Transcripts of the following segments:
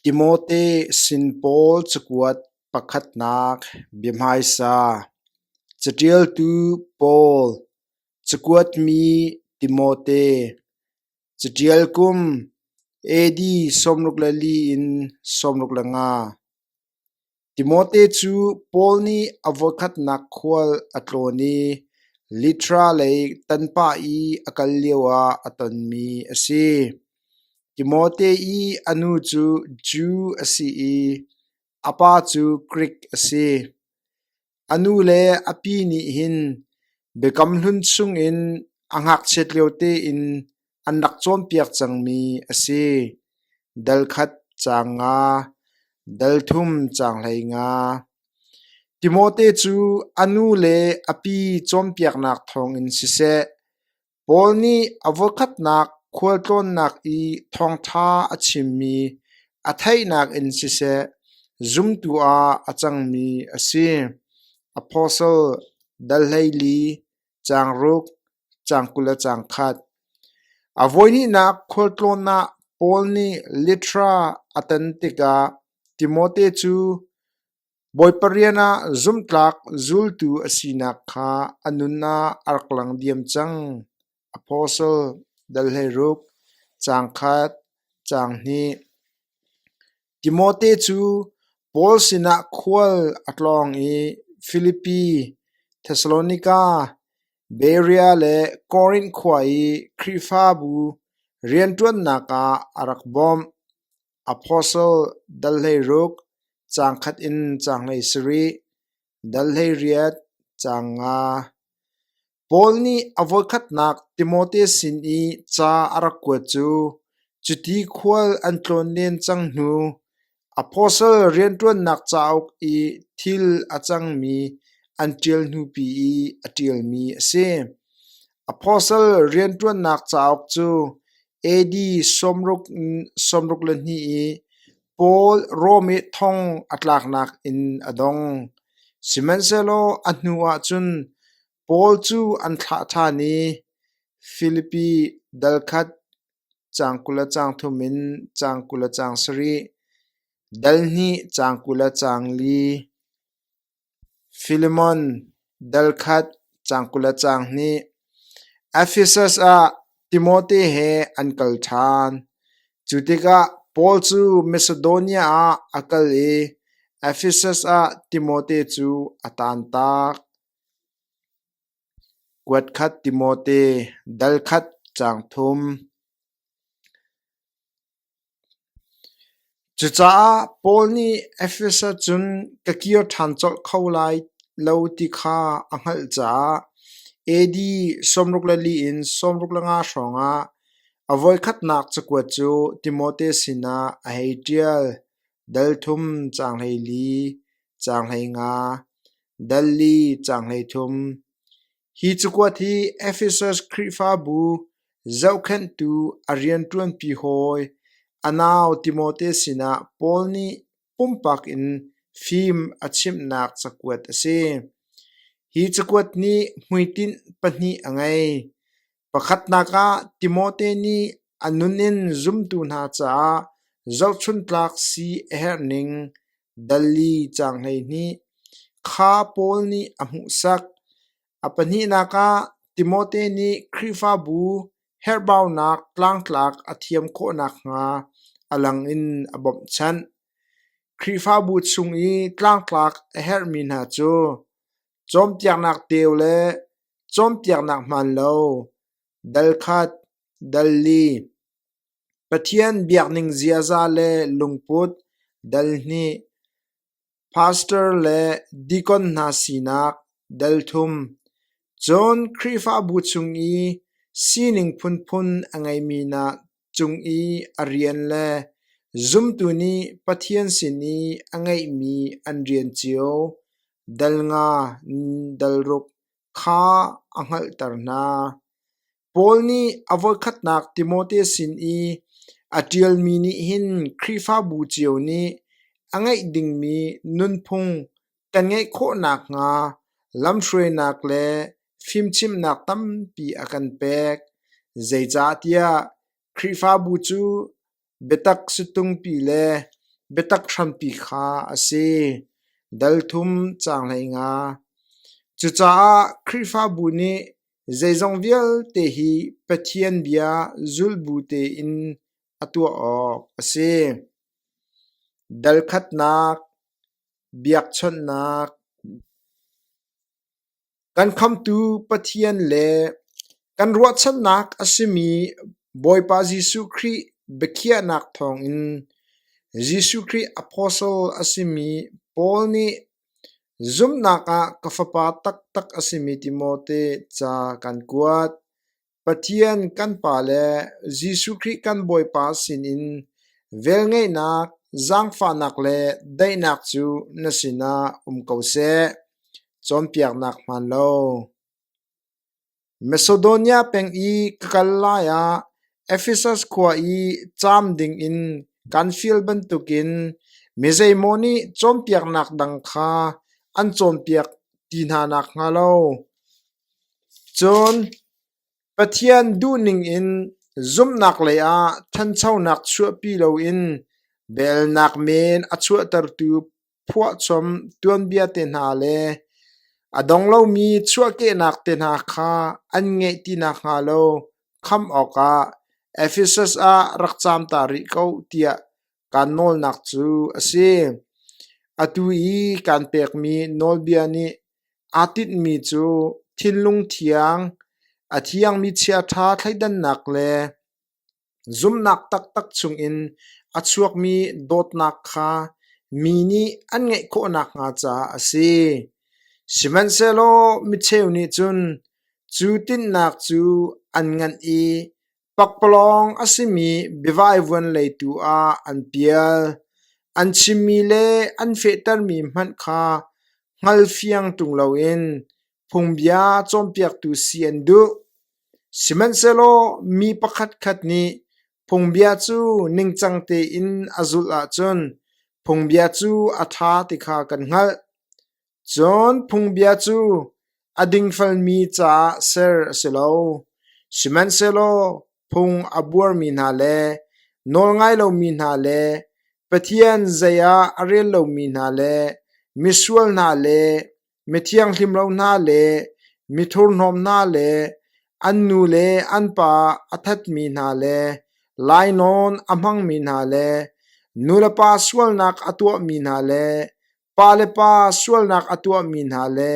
Timote sin pawl cakuat pakhatnak bia hmaisa. Caṭialtu Paul, cakuat mi Timote, caṭial kum AD sawmruk le li in sawmruk le nga. Timote cu Paul nih a voikhatnak khual a tlawn i Litra lei tanpa i a kal lioah a tonmi a si. Timote i a nu cu Jew a si i a pa cu Grik a si. A nu le a pi nih hin Biakam Hlun chungin a ngakchiat lio tein an rak cawnpiak cangmi a si: Dal khat caang nga, dal thum caang hlei nga. Timote cu a nu le a pi cawnpiaknak thawngin siseh, Paul nih a voikhatnak khualtlawnnak i thawngṭha a chimmi a theihnak in siseh, zumtu ah a cangmi a si. Apostle, dal hleili, caang ruk, caang kul le caang khat. A voihnihnak khualtlawn ah Paul nih litra a tan tikah Timote cu Bawipa rian ah zumhtlak zultu a sinak kha a nun ah a rak lang diam cang. Apostle dal hleiruk, caang khat, caang hnih. Timote cu Paul sinah khual a tlawng i Filipi, Thessalonika, Berea le Korinth khua i Khrihfabu rianṭuannak ah a rak bawmh. Apostle dal hleiruk caang khat in caang hlei sarih, dal hleiriat caang nga. Paul nih a voikhatnak Timote sin i ca a rak kuat cu cuti khual an tlawn len cang hnu apostle rianṭuannak cauk i thil a cangmi an ṭial hnupi i a ṭialmi a si. Apostle rianṭuannak cauk cu AD sawmruk le hnih i Paul Rom i thong a tlaknak in a dong. Sihmanhsehlaw a hnu ah cun Paul cu an thlah ṭhan i Filipi dal khat caang kul le caang thum in caang kul le caang sarih, dal hnih caang kul le caang li, Filemon dalkhat cang kul le cang hnih Efesus ah Timote he an kal ṭhan. Cu tikah Paul cu Masedonia ah a kal i Efesus ah Timote cu a tantak. Kuat khat Timote, dal khat cang thum. Cucaah Paul nih Efesa cun ka kir ṭhan colh kho lai lo ti kha a hngalh caah AD sawmruk le li in sawmruk le nga hrawngah a voikhatnak cakuat cu Timote sinah a hei ṭial: Dal thum caang hlei li, caang hlei nga, dal li caang hlei thum, Hi cakuat hi Efesus Khrihfabu zohkhenhtu a rianṭuanpi hawi a nau Timote sinah Paul nih pumpak in fim a chimhnak cakuat a si. Hi cakuat nih hmuitinh pahnih a ngei. Pakhatnak ah Timote nih a nun in zumtu hna caah zohchuntlak si a herhning dali caang hleihnih kha Paul nih a hmuhsak. A pahnihnak ah Timote nih Khrihfabu herhbaunak tlangtlak a thiam khawh nakhnga a lang in a bawmhchanh. Khrihfabu chung i tlangtlak a herhmi hna cu Cawnpiaknak teu le cawnpiaknak hmaan lo, dal khat, dal li, Pathian biakning ziaza le lungput, dal hnih, pastor le deacon hna sinak, dal thum. Cun Khrihfabu chung i sining phunphun a ngeimi nak. cung i a rian le zumtu nih Pathian sin i a ngeihmi an rian cio dal nga dal ruk kha a hngalhter hna. Paul nih a voikhatnak Timote sin i a ṭialmi nih hin Khrihfabu cio nih a ngeih dingmi nunphung kan ngeih khawh nakhnga lamhruainak le fimchimhnak tampi a kan pek. Zeicahtiah Khrihfabu cu biatak situngpi le biatak hrampi kha a si. Dalthum caang hleinga. Cucaah Khrihfabu nih zeizong vialte hi Pathian bia zulbu tein a tuah awk a si. Dalkhatnak, biakchawnhnak, kan Khamhtu Pathian le kan ruahchannak a simi Bawipa Jesuh Khrih biakhiahnak thawngin Jesuh Khrih apostle a simi Paul nih zumhnak ah ka fapa taktak a simi Timote ca kan kuat. Pathian kan Pa le Jesuh Khrih kan Bawipa sinin velngeihnak, zaangfahnak le daihnak cu na sinah um ko seh. Cawnpiaknak hmaan lo. Macedonia peng i ka kal lai ah Efesus khua i caam dingin kan fial bantukin mizeimaw nih cawnpiaknak dang kha an cawnpiak ti hna nakhnga lo Cun Pathian duhning in zumhnak leiah ṭhanchonak chuahpi loin belnak men a chuahtertu phuahchom tuanbia te hna le a dong lomi chuahkehnak te hna kha an ngeih ti nakhnga lo khamh awkah Efesus ah rak caam ta rih ko tiah kaan nawlnak cu a si. Atu i kaan pekmi nawlbia nih aa tinhmi cu thinlung thiang, a thiangmi chiaṭha thleidannak le zumhnak taktak chungin a chuakmi dawtnak kha mi nih an ngeih khawh nakhnga caah a si. Sihmanhsehlaw micheu nih cun cu tinhnak cu an nganh i Pakpalawng a simi biavaivuan lei tu ah an pial, an chimmi le an fehtermi hmanh kha hngal fiang ṭung loin phungbia cawnpiaktu si an duh. Sihmanhsehlaw mi pakhatkhat nih phungbia cu ningcang tein a zulh ahcun phungbia cu a ṭha ti kha kan hngalh. Cun phungbia cu a dingfelmi caah ser a si lo; sihmanhsehlaw phung a buarmi hna le nawlngai lomi hna le Pathian zei ah a rel lomi hna le misual hna le mithianghlim lo hna le mithurhnawm hna le an nu le an pa a thatmi hna le lainawn a hmangmi hna le nulepa sualnak a tuahmi hna le Pa le pa sualnak a tuahmi hna le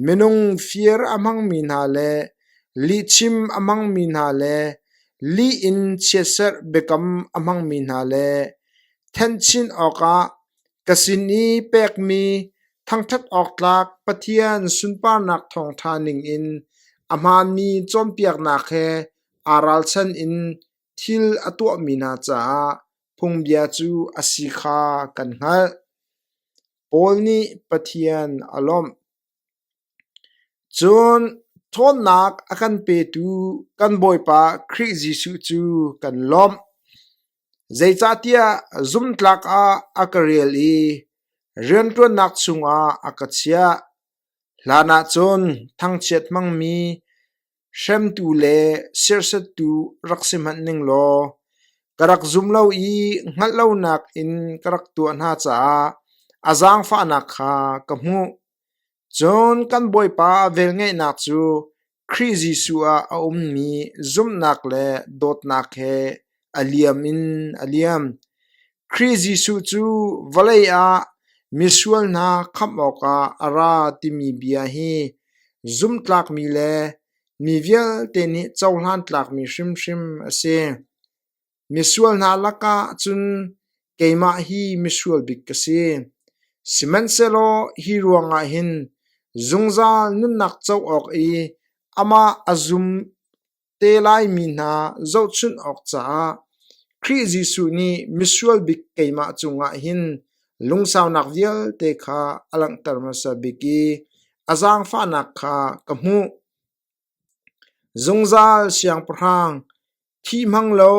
minung fir a hmangmi hna le lihchim a hmangmi hna le lih in chiatserh biakam a hmangmi hna le thenchin awkah ka sin i pekmi thangṭhat awk tlak Pathian sunparnak thawngṭha ningin a hmaanmi cawnpiaknak he aa ralchan in thil a tuahmi hna caah Phungbia cu a si kha kan hngalh. Paul nih Pathian a lawmh. Cun ṭhawnnak a kan petu kan Bawipa Khrih Jesuh cu kan lawmh. Zeicahtiah zumtlak ah a ka rel i rianṭuannak chungah a ka chiah. Hlanah cun thangchiat hmangmi Hremtu le sersettu rak si hmanh ning law ka rak zum lo i hngalh lonak in ka rak tuah hna caah a zaangfahnak kha ka hmuh. Cun kan Bawipa velngeihnak cu Khrih Jesuh ah a ummi zumhnak le dawtnak he A liam. Khrih Jesuh cu vawlei ah misual hna khamh awkah a ra timi bia hi zumhtlakmi le mi vialte nih cohlan tlakmi hrimhrim a si. Misual hna lakah cun keimah hi misual bik ka si. Sihmanhsehlaw hi ruangah hin zungzal nunnak co awk i amah a zum te laimi hna zohchunh awk caah Khrih Jesuh nih misual bik keimah cungah hin lungsaunak vialte kha a langhter hmasa bik i a zaangfahnak kha ka hmuh. Zungzal siangpahrang, thi hmang lo,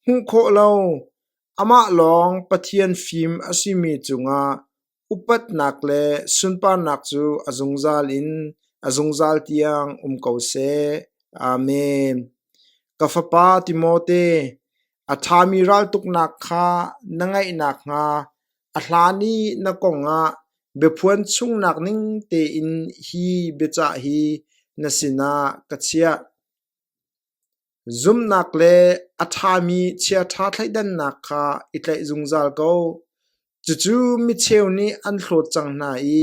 hmuh khawh lo, amah lawng Pathian fim a simi cungah Upatnak le sunparnak cu a zungzal in a zungzal tiang um ko seh. Amen. Ka fapa Timote, a ṭhami raltuknak kha na ngaih nakhnga a hlan i na kongah biaphuan chungnak ning tein hi biacah hi na sinah ka chiah. Zumhnak le a ṭhami chiaṭha thleidannak kha i tlaih zungzal ko. Cucu micheu nih an hlawt cang hna i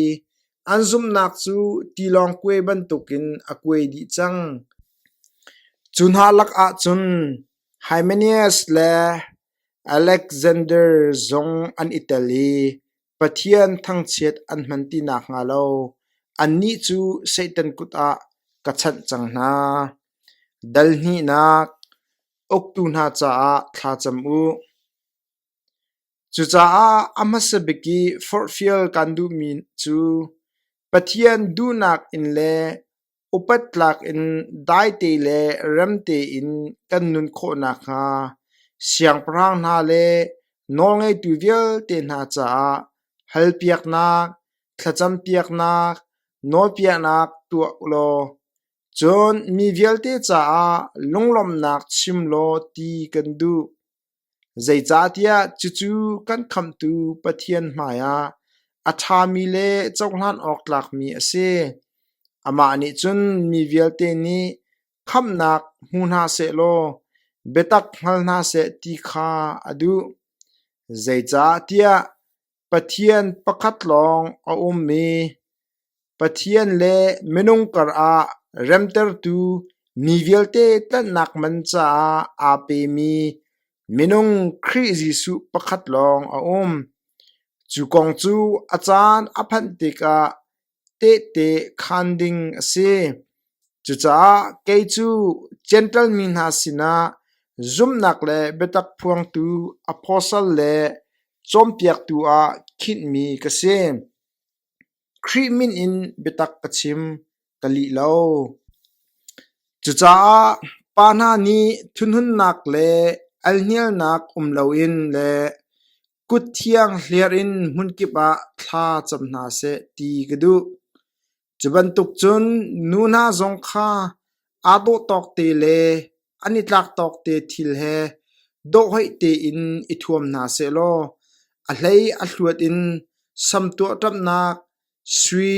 an zumhnak cu tilawng kuai bantukin a kuai dih cang. Cu hna lakah cun Hymenaeus le Aleksander zong an i tel i Pathian thangchiat an hman ti nakhnga lo annih cu Satan kut ah ka chanh cang hna. Dal hnihnak: Uktu hna caah thla cam u. Cucaah a hmasa bik i forhfial kan duhmi cu Pathian duhnak in le upat tlak in daite le remte in kan nun khawh nakhnga siangpahrang hna le nawlngeitu vialte hna caah halpiaknak, thlacampiaknak, nawlpiahnak tuah ulaw Cun mi vialte caah lunglawmhnak chim law ti kan duh. Zeicahtiah cucu kan Khamhtu Pathian hmaiah a ṭhami le cohlan awk tlakmi a si. Amah nih cun mi vialte nih khamhnak hmu hna sehlaw biatak hngal hna seh ti kha a duh. Zeicahtiah Pathian pakhat lawng a ummi, Pathian le minung karah remtertu ni vialte tlanhnak man caah aa pemi minung Khrih Jesuh pakhat lawng a um. Cu kong cu a caan a phanh tikah tehte khaan ding a si. Cucaah kei cu Jentail mi hna sinah zumhnak le biatak phuangtu apostle le cawnpiaktu ah khinhmi ka si. Khrih min in biatak ka chim ka lih lo. Cucaah pa hna nih thunhunnak le alhnialnak um loin le kutthiang hliar in hmunkip ah thla cam hna seh ti ka duh. Cu bantuk cun nu hna zong kha aa dawh tawk te le an i tlak tawk te thil he dawhhoih tein i thuam hna seh law a hlei a hluat in samtuahṭamnak Sui,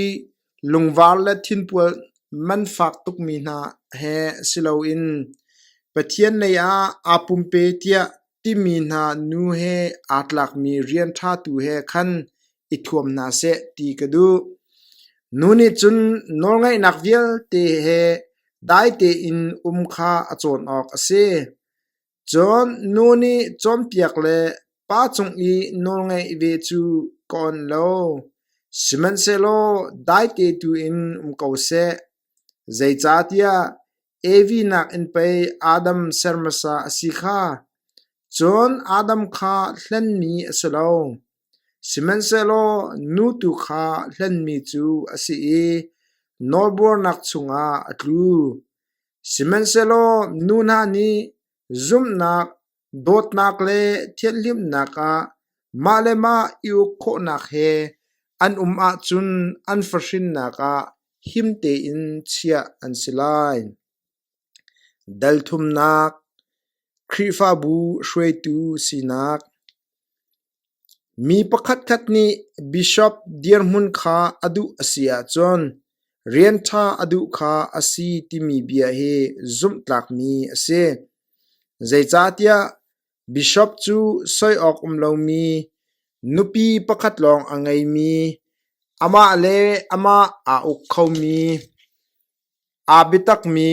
lungvar le thinpual man fak tukmi hna he si loin Pathian lei ah aa pumpe tiah timi hna nu he aa tlakmi rian ṭha tu he khan i thuam hna seh ti ka duh. Nu nih cun nawlngaihnak vialte he dai tein um kha a cawn awk a si. Cun nu nih cawnpiak le pa cung i nawlngaih ve cu ka on lo; sihmanhsehlaw daite tuin um ko seh. Zeicahtiah Evi nakin pei Adam ser hmasa a si kha, cun Adam kha hlenmi a si lo. Sihmanhsehlaw nu tu kha hlenmi cu a si i nawlbuarnak chungah a tlu. Sihmanhsehlaw nu hna nih zumhnak, dawtnak le thianhlimnak ah mah le mah i uk khawhnak he an um ahcun an fahrinnak ah him tein chiah an si lai. Dalthumnak, Khrihfabu hruaitu sinak Mi pakhatkhat nih bishop dirhmun kha a duh a si ahcun rian ṭha a duh kha a si timi bia hi zumhtlakmi a si. Zeicahtiah Bishop cu soi awk um lomi, nupi pakhat lawng a ngeimi, amah le amah aa uk khomi, aa biatakmi,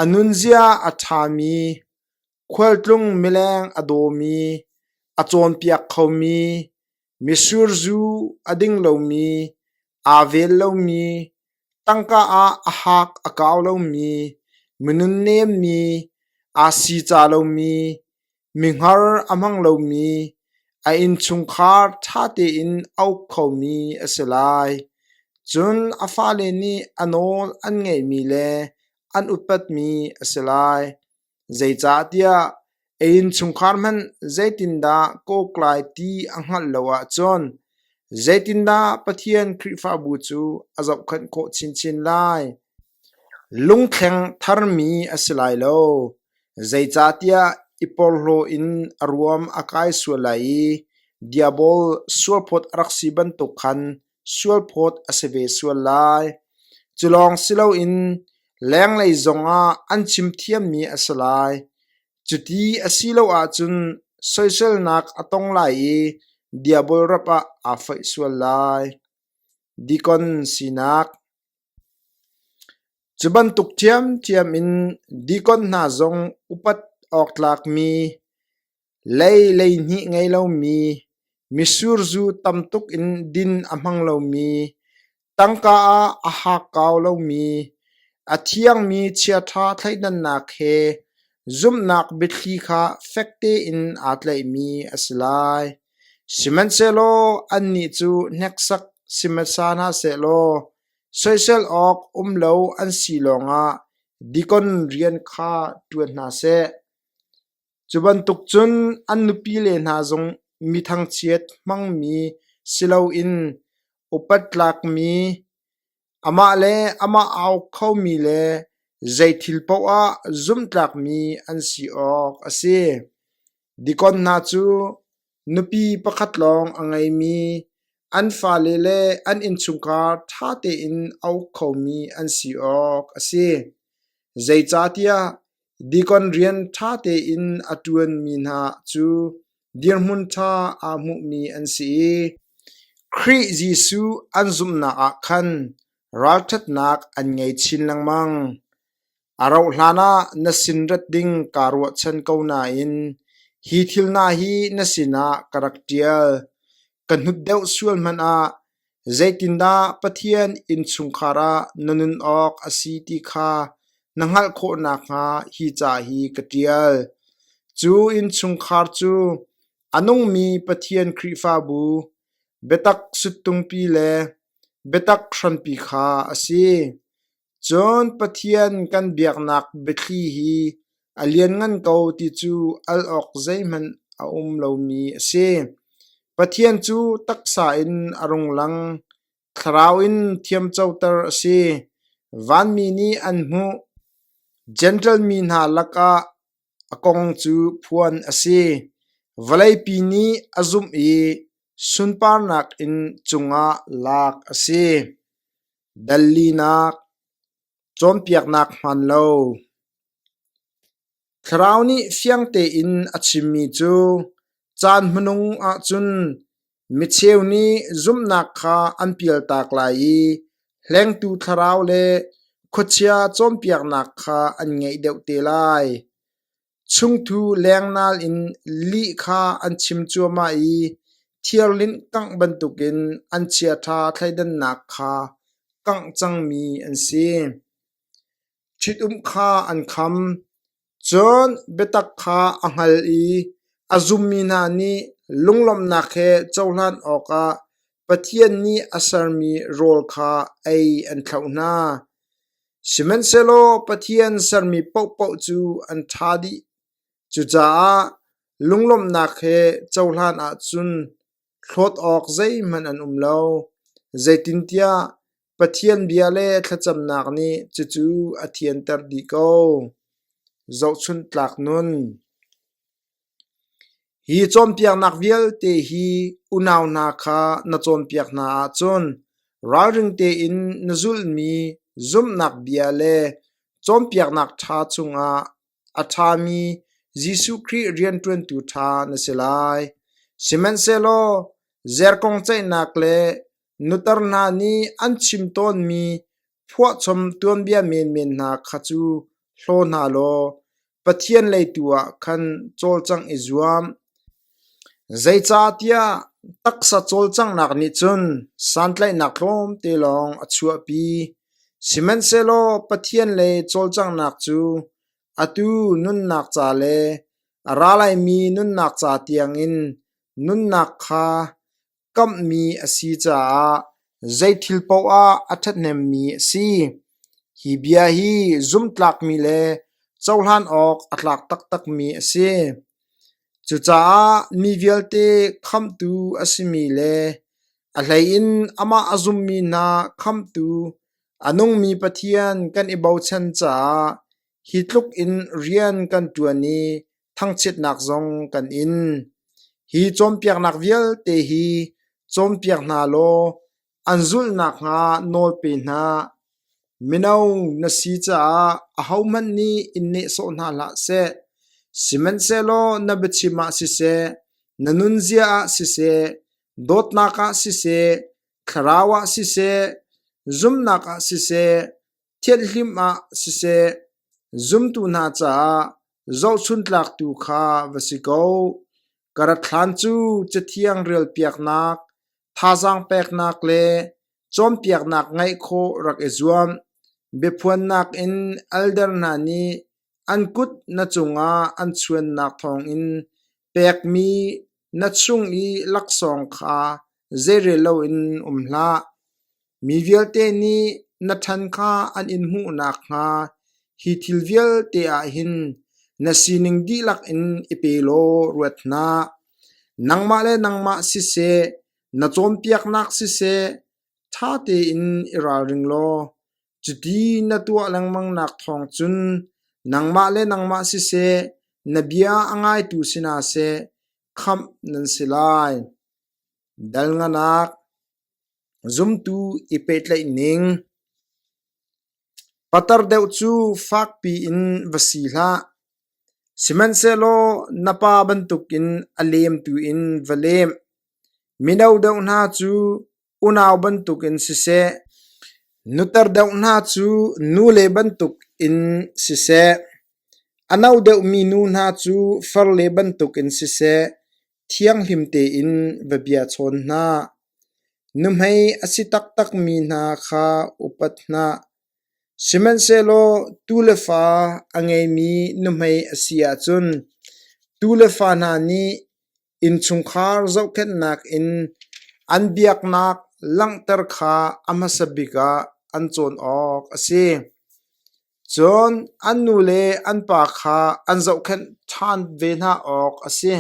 a nunzia a ṭhami, khualtlung mileng a dawmi, a cawnpiak khomi, Misur zu a ding lomi, aa vel lomi, tangka ah a haak a kau lomi, minunnem mi, aa sica lomi, mihar a hmang lomi, a innchungkhar ṭha tein a uk khomi a si lai. Cun a fale nih a nawl an ngaihmi le an upatmi a si lai. Zeicahtiah a innchungkhar hmanh zeitindah kawk lai ti a hngalh lo ahcun zeitindah Pathian Khrihfabu cu a zohkhenh khawh chinchin lai? Lungthleng tharmi a si lai lo, zeicahtiah i porhlaw in a ruam a kai sual lai i diabol sualphawt a rak si bantuk khan sualphawt a si ve sual lai. Cu lawng si loin lenglei zongah an chim thiammi a si lai. Cuti a si lo ahcun soiselnak a tong lai i Diabol rap ah aa foih sual lai. Dikon sinak Cu bantuk ṭhiamṭhiam in dikon hna zong upat awk tlakmi Lei leihnih ngei lomi, misurzu tam tuk in din a hmang lomi, tangka ah a haak kau lomi, a thiangmi chiaṭha thleidannak he zumhnak biathli kha fek tein aa tlaihmi a si lai. Sihmanhsehlaw annih cu hneksak sihmasa hna seh law soisel awk um lo an si lawngah dikon rian kha ṭuan hna seh. Cu bantuk cun an nupile hna zong mi thangchiat hmangmi si loin upat tlakmi, amah le amah au khomi le zeithil paoh ah zumhtlakmi an si awk a si. Dikon hna cu Nupi pakhat lawng a ngeimi, an fale le an innchungkhar ṭha tein a uk khomi an si awk a si. Zeicahtiah deacon rian ṭha tein a ṭuanmi hna cu dirhmun ṭha aa hmuhmi an si i Khrih Jesuh an zumhnak ah khan ralṭhatnak an ngei chin lengmang. A rauhhlan ah na sin rat ding kaa ruahchan ko nain hi thil hna hi na sinah ka rak ṭial. Ka hnut deuh sual hmanh ah zeitindah Pathian innchungkhar ah na nun awk a si ti kha na hngalh khawh nakhnga hi ca hi ka ṭial. Cu innchungkhar cu a nungmi Pathian Khrihfabu, biatak sut tungpi le biatak hranpi kha a si. Cun Pathian kan biaknak biathli hi a lianngan ko ti cu al awk zeihmanh a um lomi a si. Pathian cu taksa in a rung lang, thlarau in thiamcoter a si. Vanmi nih an hmuh, Jentail mi hna lakah A kong cu phuan a si: vawleipi nih a zumh i sunparnak in cungah lak a si. Dallinak cawnpiaknak hmaan lo Thlarau nih fiang tein a chimmi cu caan hmanung ahcun Micheu nih zumhnak kha an pialtak lai i hlengtu thlarau le khuachia cawnpiaknak kha an ngeih deuh te lai. Chungthu lengnal in lih kha an chim cuahmah i thiarlinh kangh bantukin an chiaṭha thleidannak kha kangh cangmi an si. Ṭhitum kha an kham. Cun biatak kha a hngal i a zummi hna nih lunglawmhnak he cohlan awkah Pathian nih a sermi rawl kha ei an thlauh hna. Sihmanhsehlaw Pathian sermi paohpaoh cu an ṭha dih. Cucaah lunglawmhnak he cohlan ahcun Hlawt awk zeihmanh an um lo, zeitintiah Pathian bia le thlacamnak nih cucu a thianter dih ko. Zohchunh tlak nun Hi cawnpiaknak vialte hi unau hna kha na cawnpiak hna ahcun ralring tein na zulmi zumhnak bia le cawnpiaknak ṭha chungah a ṭhami Jesuh Khrih rianṭuantu ṭha na si lai. Sihmanhsehlaw zerkong ceihnak le nutar hna nih an chim tawnmi phuahchom tuanbia menmen hna kha cu hlaw hna law Pathian lei tu ah khan cawlcangh i zuam. Zeicahtiah taksa cawlcanghnak nih cun santlaihnak tlawmte lawng a chuahpi, sihmanhsehlaw Pathian le cawlcanghnak cu atu nunnak ca le a ra laimi nunnak ca tiangin nunnak kha kamhmi a si caah zeithil paoh ah a ṭhathnemmi a si. Hi bia hi zumhtlakmi le cohlan awk a tlak taktakmi a si. Cucaah mi vialte khamtu a simi le a hleiin amah a zummi hna khamtu a nungmi Pathian kan i bochan caah hi tluk in rian kan ṭuan i thangchiatnak zong kan in. Hi cawnpiaknak vialte hi cawnpiak hna law an zulh nakhnga nawl pe hna. Mino na si caah ahohmanh nih in nehsawh hna hlah seh. Sihmanhsehlaw na biachim ah siseh, na nunzia ah siseh, dawtnak ah siseh, thlarau ah siseh, zumnak ah siseh, thianhlim ah siseh, zumtu hna caah zohchuntlak tu kha va si ko. Ka rat hlan cu Cathiang rialpiaknak, thazaang peknak le cawnpiaknak ngeih khawh rak i zuam. Biaphuannak in elder hna nih An kut na cungah an chuannak thawngin pekmi na chung i laksawng kha zeirel loin um hlah. Mi vialte nih na ṭhan kha an in hmuh nakhnga hi thil vialte ah hin na sining dihlak in i pe law ruat hna. Nangmah le nangmah siseh, na cawnpiaknak siseh, ṭha tein i ralring law. Cuti na tuah lengmangnak thawng cun nangmah le nangmah siseh, na bia a ngaitu sinah seh khamh nan si lai. Dal nganak, zumtu i pehtlaih ning. Patar deuh cu fakpi in va si hlah. Sihmanhsehlaw na pa bantukin a lemtu in va lem. Mino deuh hna cu Unau bantukin siseh, nuter deuh hna cu nule bantukin siseh, a no deuhmi nu hna cu farle bantukin siseh, thianghlim tein va bia chawn hna. Nuhmei a si taktakmi hna kha upat hna. Sihmanhsehlaw tule fa a ngeimi nuhmei a si ahcun, tule fa hna nih Innchungkhar zohkhenhnak in an biaknak langhter kha a hmasa bik ah an cawn awk a si. Cun an nu le an pa kha an zohkhenh ṭhan ve hna awk a si.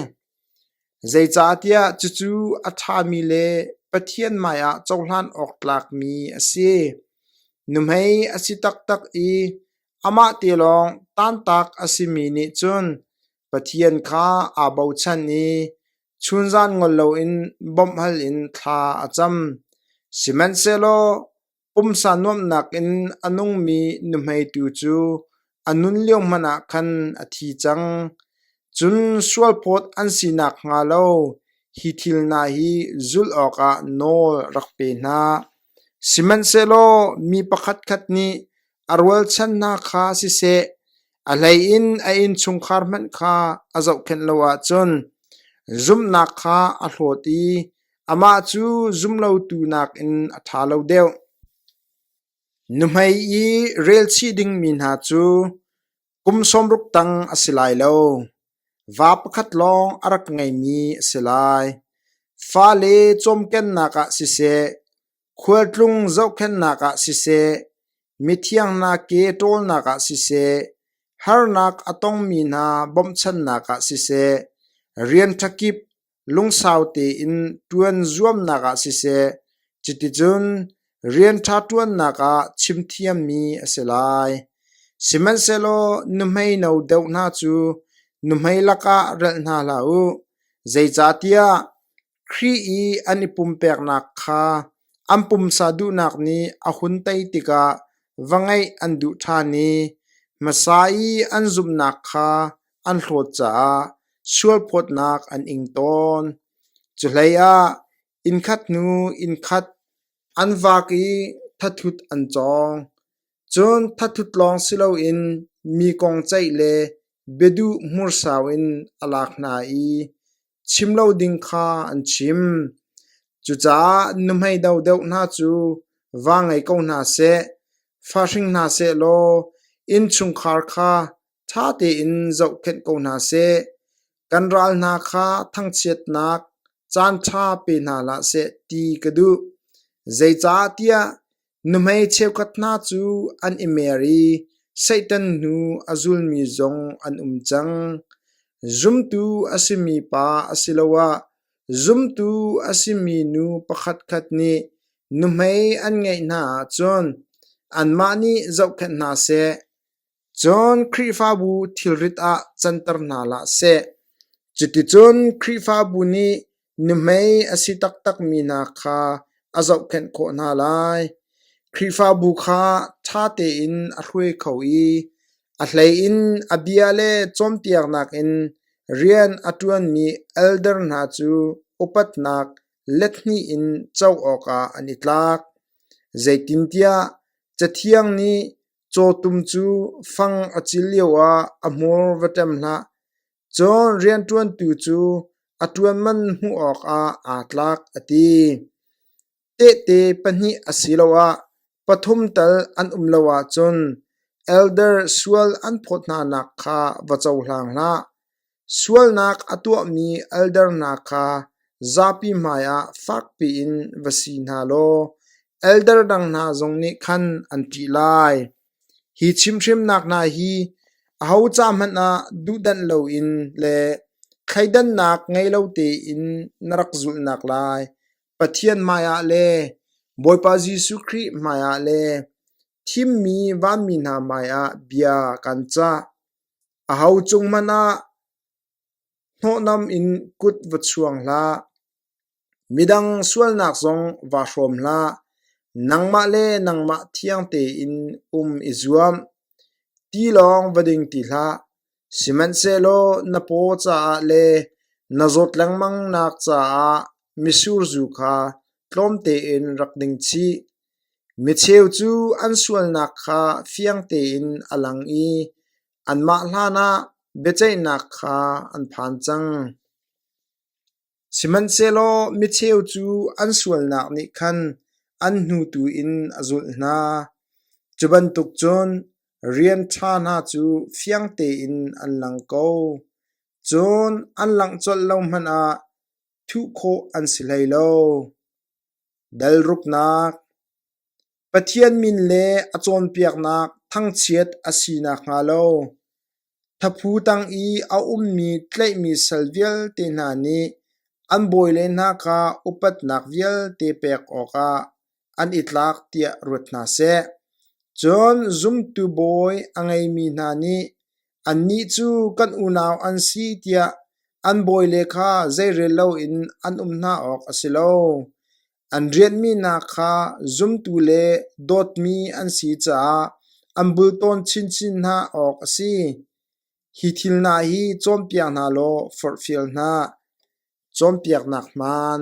Zeicahtiah cucu a ṭhami le Pathian hmaiah cohlan awk tlakmi a si. Nuhmei a si taktak i amah te lawng tantak a simi nih cun Pathian kha aa bochan i chunzan ngol loin bawmh hal in thla a cam. Sihmanhsehlaw pumsa nuamhnak in a nungmi nuhmeitu cu a nun lio hmanh ah khan a thi cang. Cun sualphawt an si nakhnga lo hi thil hna hi zulh awkah nawl rak pe hna. Sihmanhsehlaw mi pakhatkhat nih a rualchan hna kha siseh, A hleiin a innchungkhar hmanh kha a zohkhenh lo ahcun zumhnak kha a hlawt i amah cu zumlotu nakin a ṭha lo deuh. Nuhmei i relchih dingmi hna cu kum sawmruk tang a si lai lo. Va pakhat lawng a rak ngeimi a si lai. Fale cawmkennak ah siseh, Khualtlung zohkhenhnak ah siseh, mithiangnak ke ṭawlnak ah siseh, harnak a tongmi hna bawmhchanhnak ah siseh, rian ṭha kip lungsau tein ṭuan zuamnak ah siseh, cuticun rian ṭha ṭuannak ah chimthiammi a si lai. Sihmanhsehlaw nuhmei no deuh hna cu nuhmei lakah relh hna hlah u, zeicahtiah Khrih i an i pumpeknak kha an pumsa duhnak nih a hun tei tikah va ngeih an duh ṭhan i hmasa i an zumhnak kha an hlawt caah sualphawtnak an ing tawn. Cuhleiah innkhat hnu innkhat an vak i thathut an cawng. Cun thathut lawng si loin mi kong ceih le biaduh hmursau in a lak hna i chim lo ding kha an chim. Cucaah nuhmei dodeuh hna cu va ngei ko hna seh, fa hring hna seh law innchungkhar kha ṭha tein zohkhenh ko hna seh. Kan ral hna kha thangchiatnak caanṭha pe hna hlah seh ti ka duh. Zeicahtiah Nuhmei cheukhat hna cu an i mer i Satan hnu a zulmi zong an um cang. Zumtu a simi pa asiloah zumtu a simi nu pakhatkhat nih nuhmei an ngeih hna ahcun anmah nih zohkhenh hna seh. Cun Khrihfabu thilrit ah canter hna hlah seh. Cuticun Khrihfabu nih nuhmei a si taktakmi hna kha a zohkhenh khawh hna lai. Khrihfabu kha ṭha tein a hruai kho i a hleiin a bia le cawnpiaknak in rian a ṭuanmi elder hna cu upatnak lethnih in co awkah an i tlak. Zeitintiah Cathiang nih, Cawtum cu fang a cil lioah a hmur va ṭem hlah, cun rianṭuantu cu a ṭuan man hmuh awkah aa tlak, a ti. Tehte pahnih asiloah pathum tal an um lo ahcun elder sual an phawt hnanak kha va cohlang hlah. Sualnak a tuahmi eldernak kha zapi hmaiah fakpi in va si hna law elder dang hna zong nih khan an ṭih lai. Hi chimhrimnak hna hi aho ca hmanh ah duhdanh loin le thleidannak ngei lo tein na rak zulhnak lai, Pathian hmaiah le Bawipa Jesuh Khrih hmaiah le thimmi vanmi hna hmaiah bia kan cah. A ho cung hmanh ah hnawhnam in kut va chuang hlah. Midang sualnak zong va hrawm hlah. Nangmah le nangmah thiang tein um i zuam. Tilawng va ding ti hlah. Sihmanhsehlaw na paw caah le na zawt lengmangnak caah misur zu kha tlawmte in rak ding chih. Micheu cu an sualnak kha fiang tein a lang i anmah hlanah biaceihnak kha an phan cang. Sihmanhsehlaw micheu cu an sualnak nih khan an hnutu in a zulh hna. Cu bantuk cun rian ṭha hna cu fiang tein an lang ko. Cun an langh colh lo hmanh ah thuh khawh an si hlei lo. Dalruknak, Pathian min le a cawnpiaknak thangchiat a si nakhnga lo, thaphu tang i a ummi tlaihmi sal vialte hna nih an bawile hna kha upatnak vialte pek awkah an i tlak tiah ruat hna seh. Cun zumtu bawi a ngeimi hna nih Annih cu kan unau an si tiah an bawile kha zeirel loin an um hna awk a si lo. An rianhmi hna kha zumtu le dawtmi an si caah an bultawn chinchin hna awk a si. Hi thil hna hi cawnpiak hna law forhfial hna. Cawnpiaknak hmaan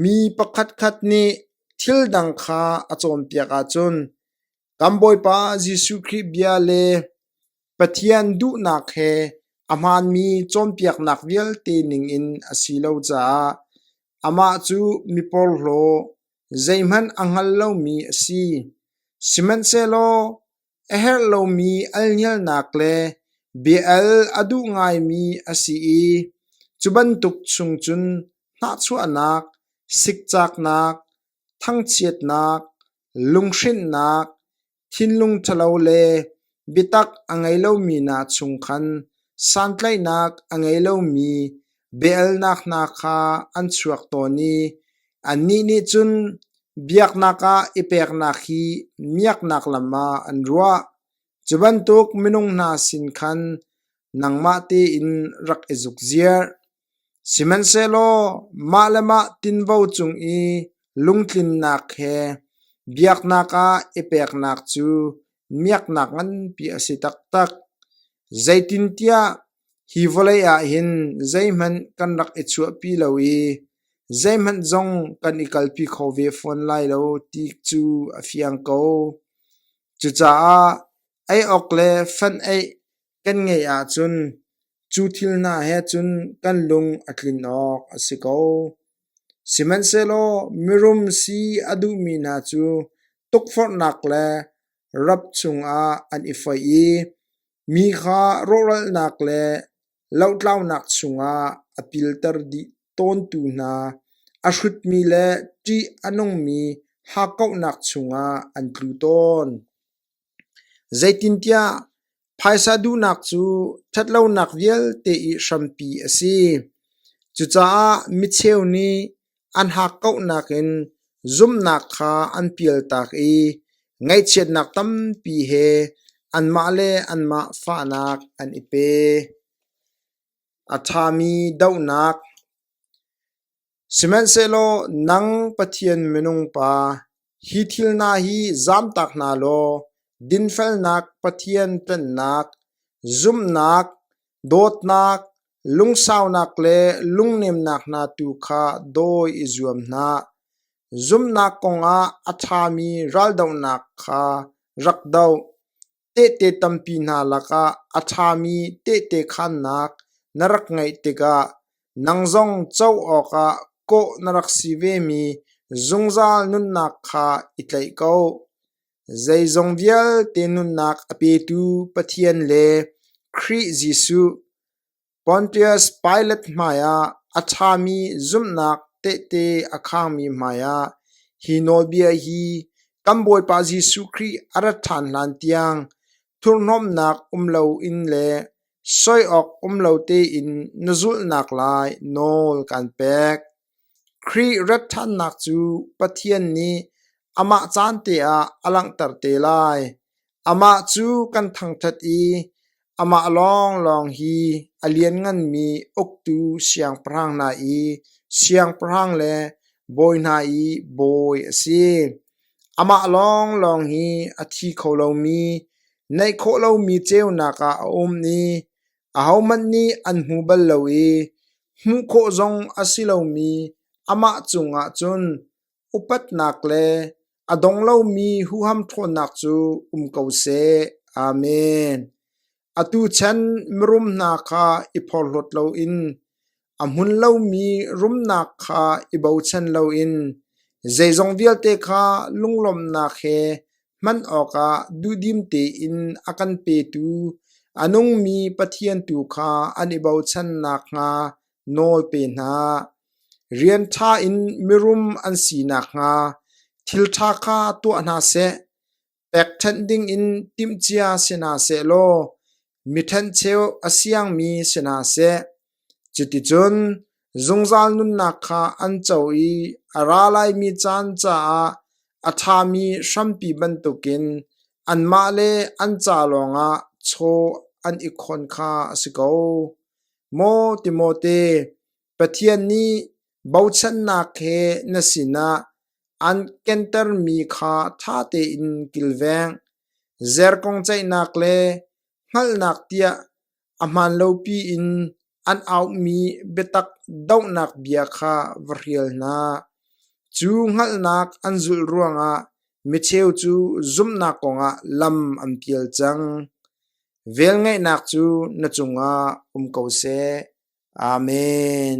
Mi pakhatkhat nih thil dang kha a cawnpiak ahcun Kan Bawipa Jesuh Khrih bia le Pathian duhnak he a hmaanmi cawnpiaknak vialte ningin a si lo caah amah cu miporhlaw zeihmanh a hngal lomi a si. Sihmanhsehlaw a herh lomi alngialnak le bia-al a duh ngaimi a si i cu bantuk chung cun hnahchuahnak, sikcaknak, thangchiatnak, lunghrinhnak, thinlung ṭhalo le biatak a ngei lomi hna chung khan santlaihnak a ngei lomi biaalnak hna kha an chuak tawn i annih nih cun biaknak ah i peknak hi miaknak lam ah an ruah. Cu bantuk minung hna sin khan nangmah tein rak i zukziarh. Sihmanhsehlaw mah le mah tinvo cung i lungtlinnak he biaknak ah i peknak cu miaknak nganpi a si taktak. Zeitintiah hi vawlei ah hin zeihmanh kan rak i chuahpi lo i zeihmanh zong kan i kalpi kho ve fawn lai lo ti cu a fiang ko. Cucaah ei awk le fan-eih Kan ngeih ahcun cu thil hna he cun kan lung a tlin awk a si ko. Sihmanhsehlaw mirum si a duhmi hna cu tukforhnak le rap chungah an i foih i mi kha rawhralnak le lohlaunak chungah a pilter dih tawntu hna a hrutmi le ṭih a nungmi hakkauhnak chungah an tlu tawn. Zeitintiah phaisa duhnak cu ṭhatlonak vialte i hrampi a si. Cucaah micheu nih an hakkauhnak in zumhnak kha an pialtak i ngaihchiatnak tampi he anmah le anmah fahnak an i pe. A ṭhami dohnak Sihmanhsehlaw nang Pathian minung pa, hi thil hna hi zamtak hna law dinfelnak, Pathian ṭannak, zumhnak, dawtnak, lungsaunak le lungnemnak hna tu kha dawi i zuam hna. Zumhnak kongah a ṭhami raldohnak kha rak doh. Tehte tampi hna lakah a ṭhami tehte khannak na rak ngeih tikah nang zong co awkah kawh na rak si vemi zungzal nunnak kha i tlaih ko. Zeizong vialte nunnak a petu Pathian le Khrih Jesuh, Pontius Pilat hmaiah a ṭhami zumhnak tehte a khangmi hmaiah hi nawlbia hi kan Bawipa Jesuh Khrih a rat ṭhan hlan tiang thurhnomhnak um loin le soi awk um lo tein na zulhnak lai nawl kan pek. Khrih rat ṭhannak cu Pathian nih amah caan te ah a langhter te lai. Amah cu kan thangṭhat i amah lawnglawng hi a liannganmi uktu siangpahrang hna i siangpahrang le bawi hna i bawi a si. Amah lawnglawng hi a thi kho lomi, neih khawh lomi ceunak ah a um i ahohmanh nih an hmu bal lo i hmuh khawh zong a si lomi amah cungah cun upatnak le a dong lomi huham ṭhawnnak cu um ko seh. Amen. Atu chan mirum hna kha i phorhlawt loin a hmun lomi rumnak kha i bochan loin zeizong vialte kha lunglawmhnak he hman awkah duhdim tein a kan petu a nungmi Pathian tu kha an i bochan nakhnga nawl pe hna. Rian ṭha in mirum an si nakhnga thil ṭha kha tuah hna seh. Pekṭhenh dingin timhcia si hna seh law mi ṭhencheu a siangmi si hna seh. Cuticun zungzal nunnak kha an co i a ra laimi caan caah a ṭhami hrampi bantukin anmah le an ca lawngah chaw an i khawn kha a si ko. Maw Timote, Pathian nih bochannak he na sinah an kentermi kha ṭha tein kilveng. Zerkong ceihnak le hngalhnak tiah a hmaanlopi in an auhmi biatak dohnak bia kha va hrial hna. Cu hngalhnak an zulh ruangah micheu cu zumhnak kongah lam an pial cang. Velngeihnak cu na cungah um ko seh. Amen.